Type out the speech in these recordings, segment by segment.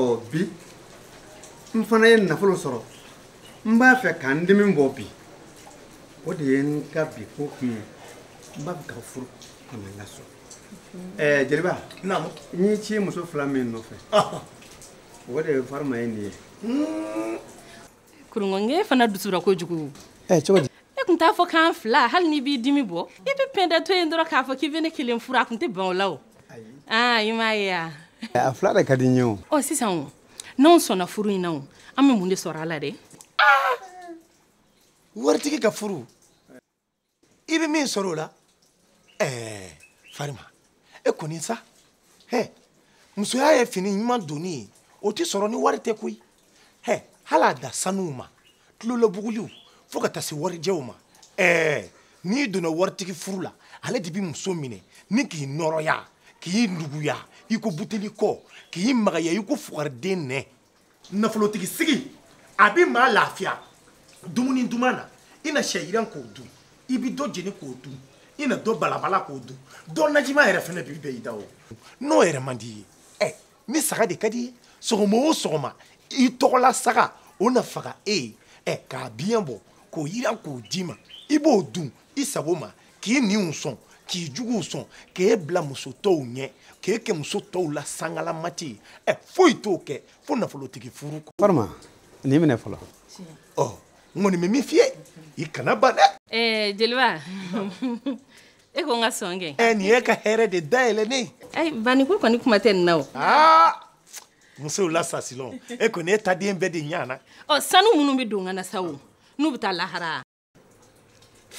ɔ bi n fana ye nafolo sɔrɔ n b'a fɛ ka n dimi bɔ bi o de ye n ka bi ko kun ye n b'a fɛ ka furu ka na n ka so ɛɛ jeliba naamu n y'i ci muso fila min nɔfɛ o de ye farima ye nin ye kurungɔ nkɛ fana dusura kojugu ɛ eh, cogo di e kun t'a fɔ k'an fila hali n'i b'i dimi bɔ i bɛ pɛnda to yen dɔrɔn k'a fɔ k'i bɛ ne kelen furu a kun tɛ ban o la o aa i m'a ye wa eh, a fila de ka di n ye o ɔ oh, sisan o n'anw sɔnna furu in na o an bɛ mun de sɔrɔ a la dɛ waritigi ka furu i bɛ min sɔrɔ o la ɛɛ farima e kɔni sa hɛ musoya ye fini ɲuman donni ye o tɛ sɔrɔ ni wari tɛ koyi hɛ hali a da sanuw ma tulolabuguliw fo ka taa se warijɛw ma ɛɛ n'i donna waritigi furu la ale de bɛ muso minɛ ni k'i nɔrɔya k'i nuguya i ko buteli kɔ k'i magaya i ko fugariden nɛ nafolotigi sigi a bɛ maa lafiya dumuni duman na i na sɛ yiran k'o dun i bɛ dɔ jeni k'o dun i na dɔ balabala k'o dun dɔ najima yɛrɛ fana bi bɛɛ i da o n'o yɛrɛ man d'i ye ɛ ni saga de ka d'i ye sɔgɔma o sɔgɔma i tɔgɔla saga o na faga e ye ɛ k'a biɲɛ bɔ k'o yiran k'o d'i ma i b'o dun i sago ma k'i ɲinw sɔn k'i juguw sɔn k'e bila muso tɔw ɲɛ k'e kɛ muso tɔw la sangalamati ye ɛ foyi t'o kɛ fo nafolotigi furu kɔ farima nin minɛ fɔlɔ ɔ n kɔni bɛ min f'i ye i kana ban dɛ ɛɛ jeliba e ko n ka sɔn kɛ ɛ nin y'e ka hɛrɛ de dayɛlɛnnen ayi baniko kɔni kuma tɛ nin na o aa musow la sasilɔn e kɔni e ta de bɛɛ de ɲana ɔ sanu minnu bɛ don n kan na sa o n'u bɛ taa lahara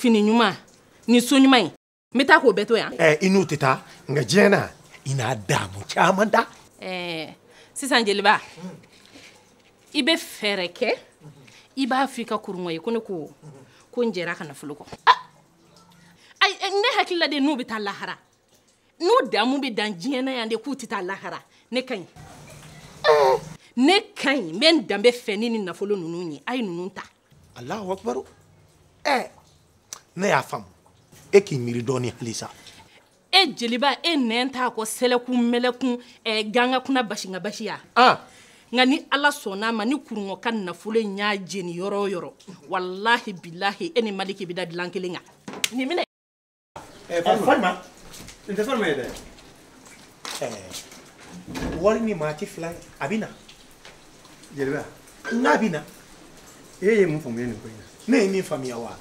fini ɲuman ni so ɲuman ye n bɛ taa k'o bɛɛ to yan. ɛɛ i n'u tɛ taa nka diɲɛ na i n'a daamu caman da. ɛɛ sisan jeliba i bɛ fɛɛrɛ kɛ i b'a fɔ i ka kurungɔ ye ko ne ko n jɛra a ka nafolo kɔ. ayi ne hakili la de n'u bɛ taa lahara n'u daamu bɛ dan diɲɛ na yan de k'u tɛ taa lahara ne ka ɲi ne ka ɲi n bɛ n danbe fɛ ni nin nafolo ninnu ye a ye ninnu ta. alahu akubaru ɛ eh, ne y'a faamu e k'i miiri dɔɔni halisa e jeliba e ne t'a kɔ sɛlɛkun mɛlɛkun eh, ganga kuna basinga basi ya ah. nka ni ala sɔnna a ma ni kurungɔ ka nafolo in y'a jeni yɔrɔ o yɔrɔ walahi bilahi e ni maliki bɛ da dilan kelen kan nin minɛ ɛ farima n tɛ farima ye dɛ wari ni maa ti fila ye a bɛ na jeliba n'a bɛ na e ye mun faamuya nin ko in na ne ye min faamuya wa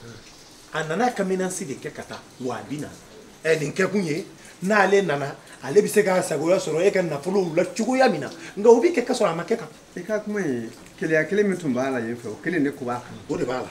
a nana ka menace de kɛ ka taa wa a bɛ na ɛ nin kɛkun ye n'ale nana ale bɛ se k'a sagoya sɔrɔ e ka nafolow la cogoya min na nka o bɛ kɛ ka sɔrɔ a ma kɛ kan i ka kuma ye keleya kelen min tun b'a la yen fɛ o kelen de ko b'a kan o de b'a la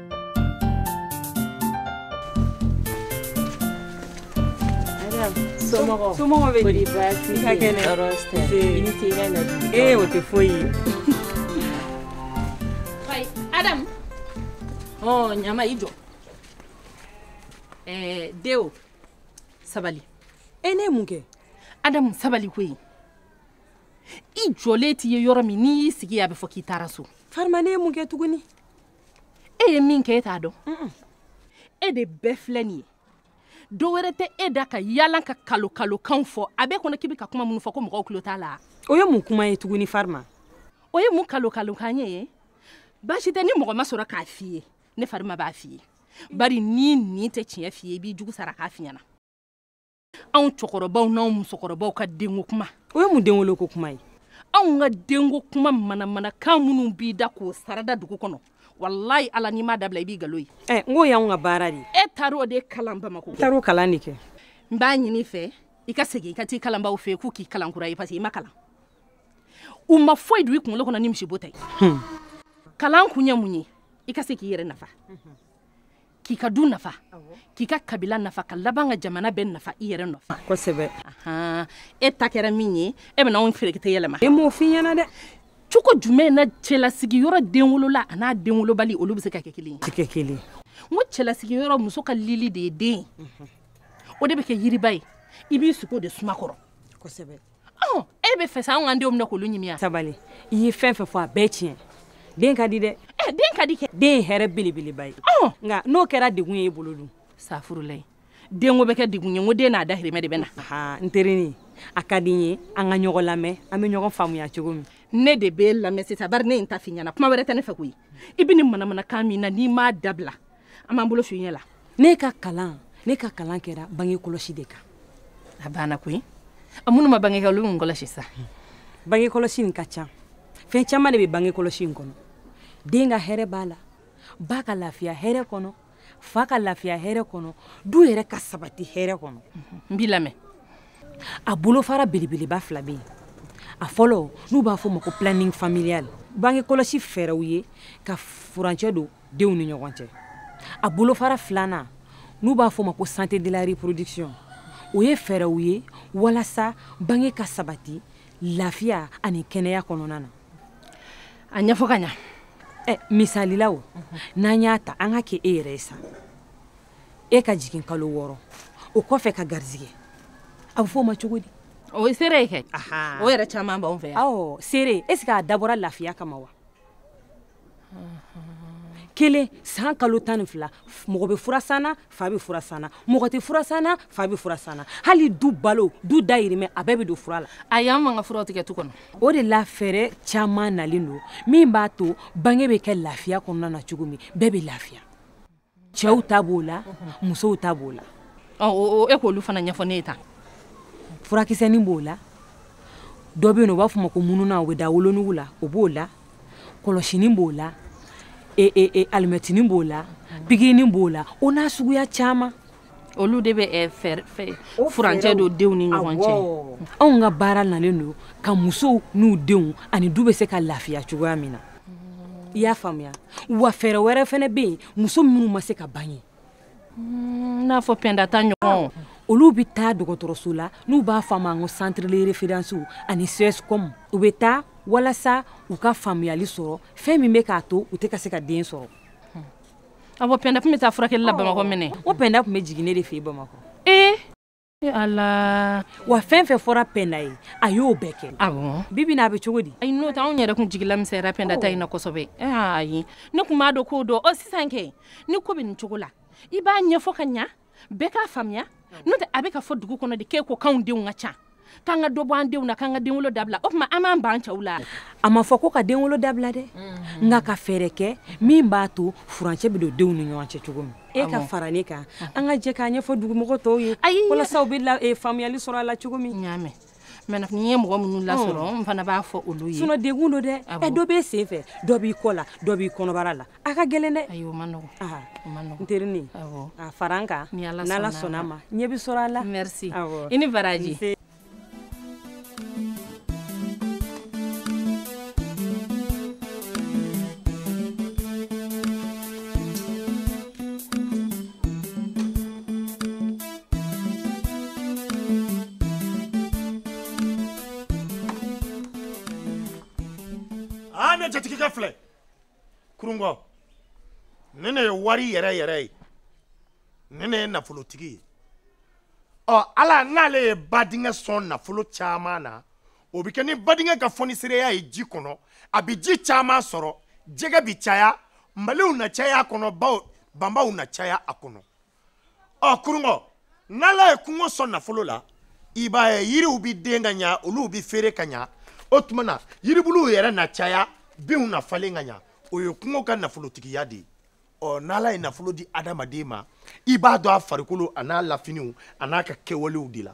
somɔgɔw bɛ di baasi i ka kɛnɛ tɔɔrɔ tɛ i ni ce i ka na ee o tɛ foyi ye adamu ɔ ɲama i jɔ ɛɛ deo sabali e ne ye mun kɛ adamu sabali koyi i jɔlen t'i ye yɔrɔ min n'i y'i sigi a bɛ fɔ k'i taara so farima ne ye mun kɛ tuguni e ye min kɛ e t'a dɔn e de bɛɛ filɛ nin ye dɔ wɛrɛ tɛ e da ka yaala ka kalokalokanw fɔ a b'e kɔnɔ k'i bɛ ka kuma minnu fɔ ko mɔgɔw tulo t'a la o ye mun kuma ye tuguni farima o ye mun kalokalokan ye baasi tɛ ni mɔgɔ ma sɔrɔ k'a f'i ye ne farima b'a f'i ye bari n'i ɲin tɛ tiɲɛ f'i ye i b'i jugu sara k'a f'i ɲɛna anw cɛkɔrɔbaw n'anw musokɔrɔbaw ka denko kuma o ye mun denwoloko kuma ye anw ka denko kuma manamanakan minnu b'i da k'o sarada dugu kɔnɔ walayi ala n'i m'a dabila i b'i galo ye ɛ eh, n k'o y'anw ka baara de ye e taar'o de kalan bamako taar'o kalan de kɛ n b'a ɲini i fɛ i ka segin i ka t'i kalanbaw fɛ k'u k'i kalan kura ye parce que i ma kalan u ma foyi don i kunkolo kɔnɔ ni misibo tɛ hmm. kalan kun ye mun ye i ka se k'i yɛrɛ nafa k'i ka du nafa k'i ka kabila nafa ka laban ka jamana bɛɛ nafa i yɛrɛ nɔfɛ kosɛbɛ e ta kɛra min ye e bɛna anw ferekete yɛlɛma ne m'o f'i ɲɛna dɛ cogo jumɛn na cɛlasigi yɔrɔ denwolola an'a denwolobali olu bɛ se ka kɛ kelen ye kɛ kelen n ko cɛlasigi yɔrɔ muso ka lili de ye den o de bɛ kɛ yiriba ye i b'i sigi o de suma kɔrɔ kosɛbɛ ɔn e b'a fɛ sa anw k'an denw minɛ k'olu ɲimi wa. sabali i ye fɛn fɛn fɔ a bɛɛ tiɲɛ den ka di dɛ. ɛ eh, den ka di kɛ. den ye hɛrɛ belebeleba ye. ɔn nka n'o kɛra degun ye e bolo dun. safurulayi denko bɛ kɛ degun ye n ko den n'a dahirimɛ de bɛ na. aa n terinin a ka di n ye an ka ɲɔgɔn lamɛn an bɛ ɲɔgɔn faamuya cogo min. ne de b'e lamɛn sisan bari ne ye n ta f'i ɲɛna kuma wɛrɛ tɛ ne fɛ koyi i bɛ nin manamanakan min na n'i m'a dabila an b'an bolo f'i ɲɛ la ne ka kalan ne ka kalan kɛra bange kɔlɔsi de kan a banna koyi a minnu ma bange kɛ olu mun kɔlɔsi sa bange kɔlɔsi in ka ca fɛn caman de bɛ bange kɔlɔsi in kɔnɔ den ka hɛrɛ b'a la ba ka lafiya hɛrɛ kɔnɔ fa ka lafiya hɛrɛ kɔnɔ du yɛrɛ ka sabati hɛrɛ kɔnɔ n b'i lamɛn a bolofara belebeleba fila bɛ yen a fɔlɔ n'u b'a fɔ o ma ko planning familial bange kɔlɔsi fɛɛrɛw ye ka furancɛ don denw ni ɲɔgɔn cɛ a bolofara filanan n'u b'a fɔ ma ko santé de la reproduction o ye fɛɛrɛw ye walasa bange ka sabati lafiya ani kɛnɛya kɔnɔna na a ɲɛfɔ ka ɲa ɛ misali la o n'an y'a ta an ka kɛ e yɛrɛ ye sa e ka jigin kalo wɔɔrɔ o kɔfɛ ka garizigɛ a bɛ fɔ o ma cogo di o ye sere ye kɛ o yɛrɛ caman b'anw fɛ yan sere est ce que a dabɔra lafiya kama wa kelen san kalo tan ni fila mɔgɔ bɛ furasan na fa bɛ furasan na mɔgɔ tɛ furasan na fa bɛ furasan na hali du balo du dayirimɛ a bɛɛ bɛ don fura la ayi an b'an ka furaw tigɛ tu kɔnɔ o de la fɛɛrɛ caman nalen don min b'a to bange bɛ kɛ lafiya kɔnɔna na cogo min bɛɛ bɛ lafiya cɛw ta b'o la musow ta b'o la e k'olu fana ɲɛfɔ ne ye tan furakisɛnin b'o la dɔ bɛ yen u b'a fɔ ma ko mununan o bɛ da wolonugu la o b'o la kɔlɔsinin b'o la e, e, e, alimɛtinin b'o la pikirinin b'o la o n'a suguya caman olu de bɛ eh, furancɛ don denw ni ɲɔgɔn cɛ anw ka baara nalen don ka musow n'u denw ani du bɛ se ka lafiya cogoya min na i y'a faamuya wa fɛɛrɛ wɛrɛ fana bɛ yen muso minnu ma se ka bange hmm, n'a fɔ pɛnda ta ɲɔgɔn olu bɛ taa dɔgɔtɔrɔso la n'u b'a fɔ a ma ko centre de référence ani CSCOM u bɛ taa walasa u ka faamuyali sɔrɔ fɛn min bɛ k'a to u tɛ ka se ka den sɔrɔ ah bon pɛnda tun bɛ taa furakɛli la bamakɔ minkɛ o pɛnda tun bɛ jigin ne de fɛ yen bamakɔ ee ala wa fɛn fɛn fɔra pɛnda ye a y'o bɛɛ kɛ awɔ bi bi in na a bɛ cogo di ayi n'o tɛ anw yɛrɛ tun jigilamisɛnyara pɛnda ta in na kosɛbɛ ayi ne tun b'a dɔn k'o don ɔ sisan kɛ ni ko bɛ nin cogo la i b'a ɲɛfɔ ka ɲa bɛɛ k'a faamuya n'o tɛ a bɛ ka fɔ dugu kɔnɔ de k'e ko k'anw denw ka ca k'an ka dɔ bɔ an denw na k'an ka denwolo dabila o tuma an b'an ban cɛw la a ma fɔ ko ka denwolo dabila dɛ mm-hmm. nka ka fɛɛrɛ kɛ min b'a to furancɛ bɛ don denw ni ɲɔgɔn cɛ cogo min e ka fara ne kan an ka jɛ k'a ɲɛfɔ dugumɔgɔ tɔw ye walasa u bɛ e, faamuyali sɔrɔ a la cogo min mais ni n ye mɔgɔ minnu lasɔrɔ n fana b'a fɔ olu ye sinon degun don dɛ ɛ dɔ b'e sen fɛ dɔ b'i kɔ la dɔ b'i kɔnɔbara la a ka gɛlɛn dɛ ayi o ma nɔgɔ n terinin a fara n kan n'ala sɔnna a ma ɲɛ bɛ sɔrɔ a la merci i ni baraji aa ne jatigikɛ filɛ kurungɔ ne ne ye wari yɛrɛ yɛrɛ ye ne ne ye nafolotigi ye ɔ ala n'ale ye badingɛ sɔn nafolo caman na o bɛ kɛ ni badingɛ ka fɔnisereya ye ji kɔnɔ a bɛ ji caman sɔrɔ jɛgɛ bɛ caya maliw na caya a kɔnɔ baw banbaw na caya a kɔnɔ ɔ kurunkɔ n'ala ye kungo sɔn nafolo la i b'a ye yiriw bɛ den ka ɲa olu bɛ feere ka ɲa o tuma na yiribuluw yɛrɛ na caya binw na falen ka ɲa o ye kungo ka nafolotigiya de ye ɔ n'ala ye nafolo di adamaden ma i b'a dɔn a farikolo a n'a lafiniw a n'a ka kɛwalew de la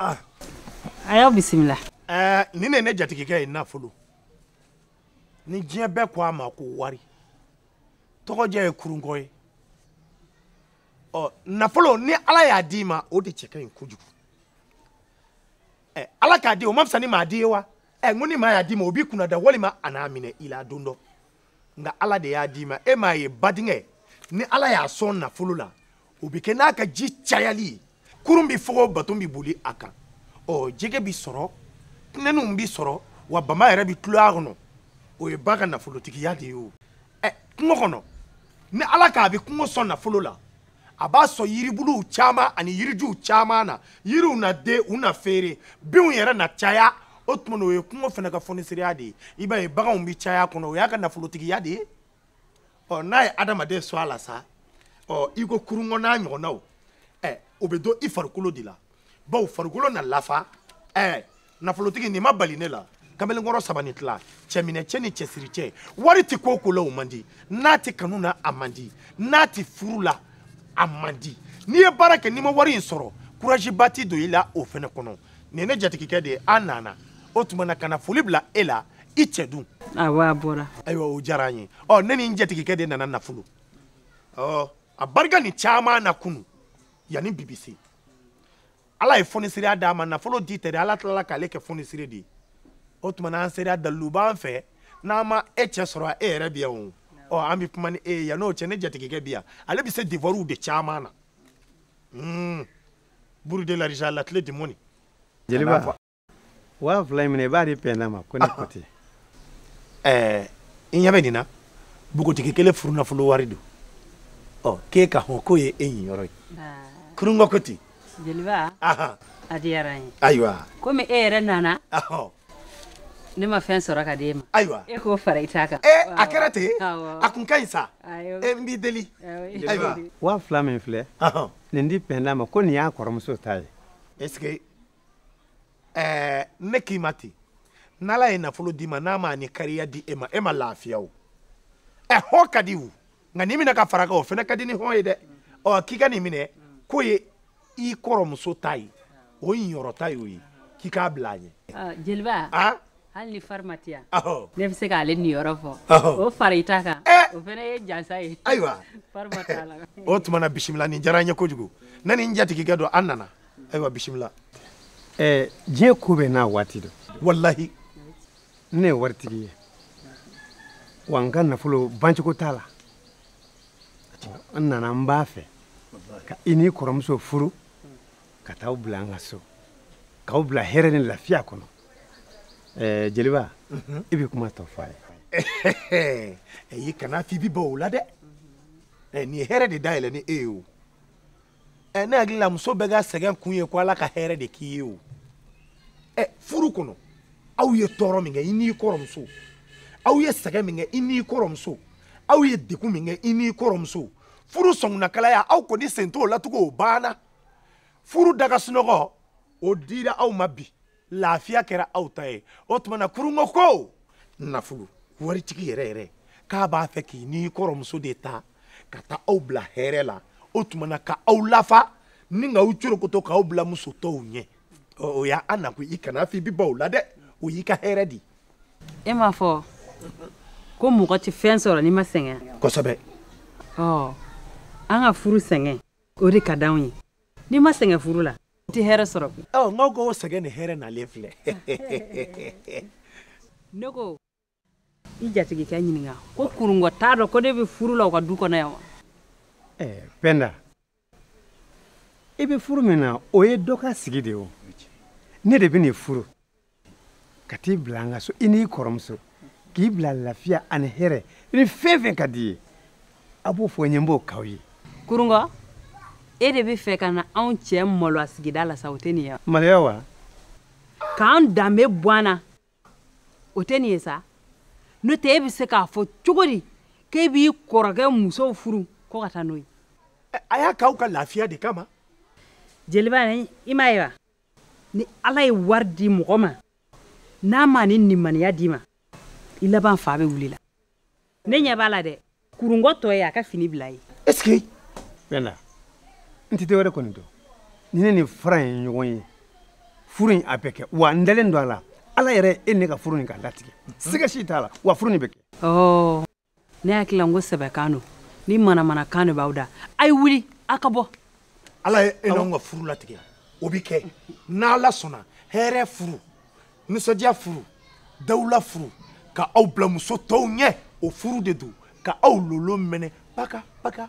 Ah. a y'aw bisimila. ɛɛ eh, nin de ye ne jatigikɛ ye nafolo ni diɲɛ bɛɛ ko a ma ko wari tɔgɔjɛ ye kurunkɔ ye ɔ nafolo ni ala y'a d'i ma o de cɛ ka ɲi kojugu ɛ eh, ala ka di o man fisa ni maa di ye wa ɛ eh, n ko ni maa y'a d'i ma o b'i kunnada walima a n'a minɛ i la don dɔ. nka ala de y'a d'i ma e m'a ye badingɛ ni ala y'a sɔn nafolo la o bɛ kɛ n'a ka ji cayali ye kurun bɛ fogo baton bɛ boli a kan ɔ jɛgɛ bɛ sɔrɔ tinɛninw bɛ sɔrɔ wa bama yɛrɛ bɛ tulɔ a kɔnɔ o ye ba ka nafolotigiya de ye o ɛ kungo kɔnɔ ni ala k'a bɛ kungo sɔn nafolo la a b'a sɔn yiribuluw caman ani yirijuw caman na yiriw na den u na feere binw yɛrɛ na caya o tuma na o ye kungo fana ka fonisereya de ye i b'a ye baganw bɛ caya a kɔnɔ o y'a ka nafolotigiya de ye ɔ n'a ye adamaden sɔn a la sa ɔ i ko kurungɔ n'a ɲɔgɔnnaw ɛ o bɛ dɔn i farikolo de la bawo farikolo na lafa ɛ nafolotigi nin ma bali ne la kamalenkɔrɔ saba ni tila cɛminɛ cɛ ni cɛsiri cɛ wari tɛ ko o ko la o man di n'a tɛ kanu na a man di n'a tɛ furu la a man di n'i ye baara kɛ n'i ma wari in sɔrɔ kurazi ba tɛ don i la o fana kɔnɔ nin ye ne jatigikɛ de ye an nana o tuma na ka na foli bila e la i cɛ dun awɔ a bɔra ayiwa o diyara an ye ɔ ne ni n jatigikɛ de nana nafolo ɔ a barika nin caman na kunu yanni bi bi se ala ye fonisiriya d'a ma nafolo di tɛ dɛ ala tilala k'ale kɛ fonisiri de ye o tuma na an sera dalilu b'an fɛ n'an ma e cɛ sɔrɔ e yɛrɛ bi yan o ɔ an bɛ kuma ni e ye yan'o cɛ ne jatigikɛ bi yan ale bɛ se devuwariw de caman na hmm. bureau de l'argent l'atelier de monnaie jeliba waa fila in minɛ i b'a di pɛnda ma ko ne ko ten ɛɛ i ɲɛ bɛ nin na bogotigi kelen furunafolo wari don ɔ k'e ka hɔn k'o ye e niyɔrɔ ye kurungɔ ko ten jeliba a diyara n ye ayiwa komi e yɛrɛ nana ne ma fɛn sɔrɔ ka d'e ma ayiwa e k'o fara i ta kan a kɛra ten a kun ka ɲi sa e n b'i deli ayiwa waa fila min filɛ nin di pɛnda ma ko nin y'a kɔrɔmuso ta ye est ce que ɛɛ ne k'i ma ten n'ala ye nafolo d'i ma n'a ma ni kariya di e ma e ma lafiya o ɛ hɔn ka di o nka nin minɛ ka fara kan o fana ka di ni hɔn ye dɛ ɔ k'i ka nin minɛ k'o ye i kɔrɔmuso ta ye o yɔrɔ ta y'o ye k'i k'a bila a ɲɛ. Ah, jeliba ah? hali ni farima tɛ yan ne bɛ se k'ale niyɔrɔ fɔ o fara i ta kan eh! o fana ye jansa ye ayiwa farima t'a la o tuma na bisimila nin diyara n ye kojugu ne ni n jatigikɛ don an nana. ayiwa bisimila ɛɛ diɲɛ ko bɛɛ n'a waati don walahi ne ye waritigi ye wa n ka nafolo bancogo t'a la n nana n b'a fɛ ka i n'i kɔrɔmuso furu ka taa aw bila an ka so k'aw bila hɛrɛ ni lafiya kɔnɔ ɛɛ jeliba mhm. i bɛ kuma tɔ fɔ a ye ayi kana f'i b'i ban o la dɛ nin ye hɛrɛ de dayɛlɛni ye o ɛ ne hakili la muso bɛɛ ka sɛgɛn kun ye ko ala ka hɛrɛ de k'i ye o ɛ furu kɔnɔ aw ye tɔɔrɔ min kɛ i n'i kɔrɔmuso aw ye sɛgɛn min kɛ i n'i kɔrɔmuso aw ye degun min kɛ i n'i kɔrɔmuso furu sɔngunnakalaya aw kɔni sen t'o latugun o banna furu daga sunɔgɔ o dira aw ma bi lafiya kɛra aw ta ye o tuma na kurungɔ ko nafolo waritigi yɛrɛ yɛrɛ k'a b'a fɛ k'i n'i kɔrɔmuso de ta ka taa aw bila hɛrɛ la o tuma na ka aw lafa ni ka aw corokoto k'aw bila muso tɔw ɲɛ o y'an nakun i kana f'i b'i ban o la dɛ o y'i ka hɛrɛ de e m'a fɔ ko mɔgɔ tɛ fɛn sɔrɔ n'i ma sɛgɛn kosɛbɛ ɔ an ka furu sɛgɛn o de ka d'anw ye n'i ma sɛgɛn furu la i tɛ hɛrɛ sɔrɔ koyi ɔ n'aw k'o sɛgɛn nin hɛrɛ nalen filɛ ne ko i jatigikɛ ɲininka ko kurungɔ t'a dɔn ko ne bɛ furu la u ka du kɔnɔ yan wa eh, pɛnda i bɛ furu min na o ye dɔ ka sigi de ye o ne de bɛn'i furu ka t'i bila an ka so i n'i kɔrɔmuso k'i bila lafiya ani hɛrɛ ni fɛn fɛn ka d'i ye a b'o fɔ n ye n b'o k'aw ye kurungɔ e de bɛ fɛ ka na anw cɛ maloya sigida la sa o tɛ nin ye maloya wa k'an danbe bɔ an na o tɛ nin ye sa n'o tɛ e bɛ se k'a fɔ cogo di k'e b'i kɔrɔkɛ musow furu ko ka taa n'o ye a y'a k'aw ka lafiya de kama jeliba i m'a ye wa ni ala ye wari di mɔgɔ ma n'a ma ni nimaniya d'i ma i laban fa bɛ wuli i la ne ɲɛ b'a la dɛ kurungɔ tɔ ye a ka fini bila ye ɛseke penda n tɛ wɛrɛ kɔni dɔn ni ne ni fara ye ɲɔgɔn ye furu in a bɛ kɛ wa n dalen don a la ala yɛrɛ e ne ka furu in ka latigɛ siga si t'a la wa furu in bɛ kɛ ne hakili la n ko sɛbɛkan don ni manamanakan de b'aw da a ye wuli a ka bɔ ala ye e n'anw ka furu latigɛ o bɛ kɛ n'ala sɔnna hɛrɛ furu nisɔndiya furu dawula furu ka aw bila muso tɔw ɲɛ o furu de don ka aw lolo mɛnɛ paka paka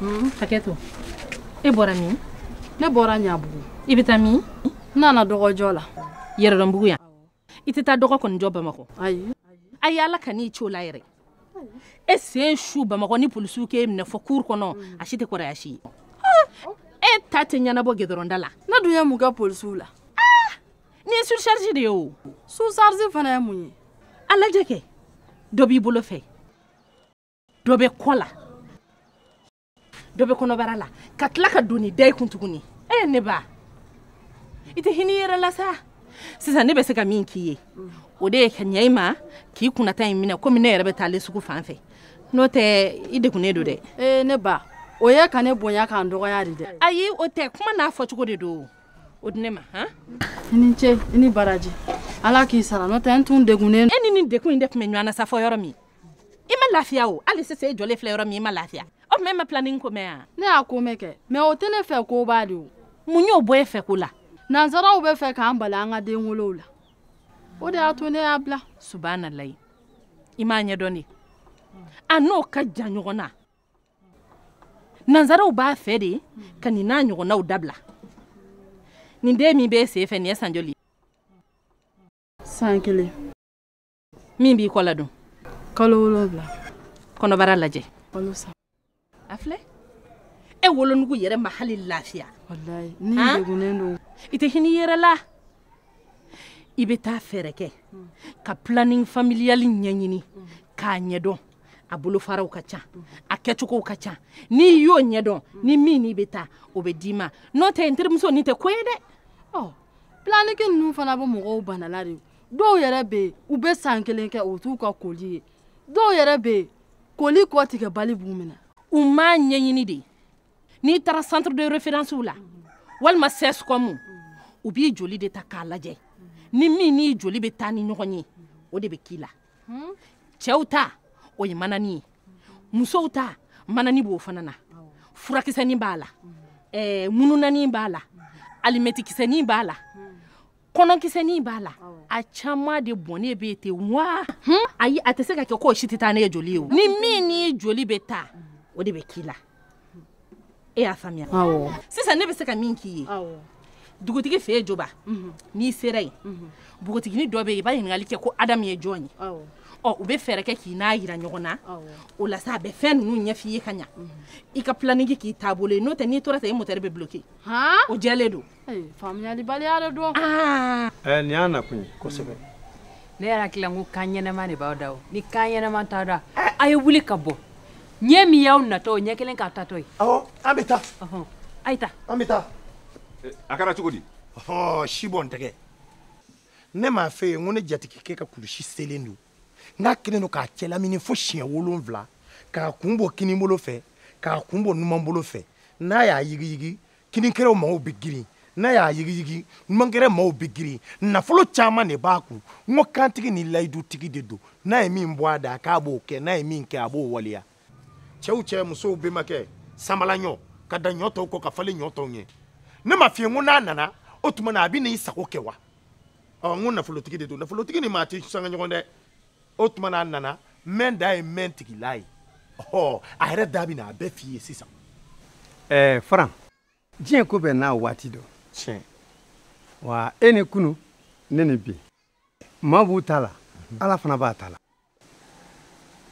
Hmm, hakɛ to e bɔra min ne bɔra ɲabugu i bɛ taa min n nana dɔgɔjɔ la yɛrɛdɔnbugu yan i tɛ taa dɔgɔ kɔni jɔ bamakɔ ayi ayi ala kan'i ci o la yɛrɛ e sen su bamakɔ ni polisiw k'e minɛ fɔ cour kɔnɔ a si tɛ kɔrɔya si ye ah, e ta tɛ ɲɛnabɔ gɛdɔrɔnda la ne dun ye mun kɛ polisiw la ah, nin ye surcharge de ye o surcharge fana ye mun ye a lajɛ kɛ dɔ b'i bolo fɛ dɔ bɛ kɔ la dɔ bɛ kɔnɔbara la ka tila ka doni da i kun tuguni ee ne ba i tɛ hinɛ i yɛrɛ la sa sisan ne bɛ se ka min k'i ye o de ye ka ɲɛ i ma k'i kunnata in minɛ komi ne yɛrɛ bɛ taalen sugu fan fɛ n'o tɛ i degunnen don dɛ ee ne ba o ye ka ne bonya ka n dɔgɔya de dɛ ayi o tɛ kuma n'a fɔcogo de don o di ne ma han i ni ce i ni baraji ala k'i sara n'o tɛ n tun degunnen e ni nin degun in de tun bɛ ɲɔgɔn na sa fɔ yɔrɔ min i ma lafiya o hali sisan e jɔlen filɛ yɔrɔ min i ma lafiya o tuma e ma planning ko mɛn yan ne y'a ko mɛn kɛ mɛ o tɛ ne fɛ ko ba de o mun y'o bɔ e fɛ ko la nansaraw bɛ fɛ k'an bali an ka den wolow la o de y'a to ne y'a bila subanalayi i m'a ɲɛdɔn de a n'o ka jan ɲɔgɔn na nansaraw b'a fɛ de ka nin n'a ɲɔgɔnnaw dabila nin den min b'e sen fɛ nin ye san joli san kelen min b'i kɔ la dun kalo wolonwula kɔnɔbara lajɛ kalo saba a filɛ e wolonugu yɛrɛ ma hali lafiya walayi nin Han? degunnen don i tɛ hinɛ i yɛrɛ la i bɛ taa fɛɛrɛ kɛ ka planning familial ɲɛɲini k'a ɲɛdɔn a bolofaraw ka ca a kɛcogow ka ca n'i y'o ɲɛdɔn ni min n'i bɛ taa o bɛ d'i ma n'o tɛ n terimuso nin tɛ ko ye dɛ ɔ planning ninnu fana bɛ mɔgɔw banala de o dɔw yɛrɛ bɛ yen u bɛ san kelen kɛ o t'u ka koli ye dɔw yɛrɛ bɛ yen koli kɔtigɛbali b'u minɛ u m'a ɲɛɲini de n'i taara centre de référence la walima CSCOM u b'i joli de ta k'a lajɛ ni min n'i joli bɛ taa ni ɲɔgɔn ye o de bɛ k'i la cɛw ta o ye manani ye musow ta manani b'o fana na furakisɛnin b'a la ɛɛ mununani b'a la alimɛtikisɛnin b'a la kɔnɔkisɛnin b'a la a caman de bɔnnen bɛ ten wa hmm? ayi a tɛ se ka kɛ k'o si tɛ taa ni e joli ye o ni min n'i joli bɛ taa o de bɛ k'i la e y'a faamuya sisan ne bɛ se ka min k'i ye dugutigi fɛ yen joba mhm. n'i sera yen mhm. npogotigini dɔ bɛ yen i b'a ɲininkali kɛ ko adamu ye jɔn ye ɔ u bɛ fɛɛrɛ kɛ k'i n'a yira ɲɔgɔn na o la sa a bɛ fɛn ninnu ɲɛf'i ye ka ɲa mhm. i ka planning k'i taabolo ye n'o tɛ n'i tora ten i motɛri bɛ bloke o jɛlen don faamuyalibaliya de don ah. eh, nin y'a nakun ye kosɛbɛ ne yɛrɛ hakili la ko kan ɲɛnɛma de b'aw da o ni kan ɲɛnɛma t'a da a ye wuli ka bɔ ɲɛ min y'aw natɔ o ɲɛ kelen k'a tatɔ ye awɔ an bɛ taa a ye taa an bɛ taa eh, a kɛra cogo di si bɔn tɛgɛ ne m'a f'e ye n ko ne jatigikɛ ka kulusi selen don n'a kelen don k'a cɛ lamini fo siɲɛ wolonwula k'a kun bɔ kinibolo fɛ k'a kun bɔ numanbolo fɛ n'a y'a yigiyigi kininkɛrɛ maaw bɛ girin n'a y'a yigiyigi numankɛrɛ maaw bɛ girin nafolo caman de b'a kun n ko kantigi ni layidutigi de don n'a ye min bɔ a da k'a b'o kɛ n'a ye min kɛ a b'o waleya cɛw cɛ musow bɛnbakɛ sanbalaɲɔ ka dan ɲɔ tɔw kɔ ka falen ɲɔ tɔw ɲɛ ne m'a f'i ye n ko n'a nana o tuma na a bɛ n'i sago kɛ wa ɔ n ko nafolotigi de don nafolotigi ni maa tɛ sanga ɲɔgɔn dɛ o tuma n'a nana mɛn da ye mɛn tigila ye ɔ a yɛrɛ da bɛ na a bɛɛ f'i ye sisan. ɛɛ faran diɲɛ ko bɛɛ n'a waati don. tiɲɛ. wa e ni kunu ne ni bi maaw b'u ta la ala fana b'a ta la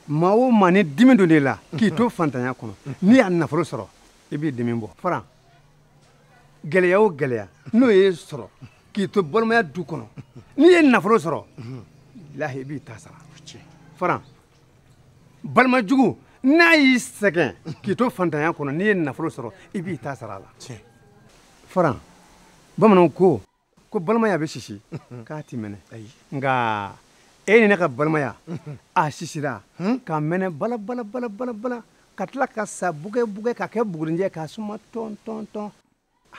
maa o maa ni dimi donn'e la k'i to fantanya kɔnɔ n'i y'a nafolo sɔrɔ i b'i dimi bɔ faran gɛlɛya o gɛlɛya n'o y'e sɔrɔ k'i to balimaya du kɔnɔ n'i ye nafolo sɔrɔ lahi i b'i ta sara faran balima jugu n'a y'i sɛgɛn k'i to fantanya kɔnɔ n'i ye nafolo sɔrɔ i b'i ta sara a la faran bamananw ko ko balimaya bɛ sisi k'a ti mɛnɛ nka e ni ne ka balimaya a sisira ka mɛnɛ bala bala bala bala bala ka tila ka sa bugɛ bugɛ ka kɛ bugurinjɛ ka suma tɔn tɔn tɔn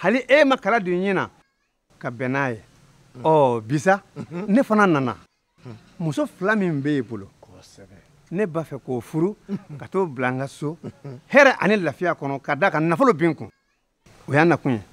hali e ma kala don ɲin na ka bɛn n'a ye ɔ bi sa ne fana nana muso fila min bɛ e bolo ne b'a fɛ k'o furu ka t'o bila n ka so hɛrɛ ani lafiya kɔnɔ ka d'a kan nafolo bi n kun o y'a nakun ye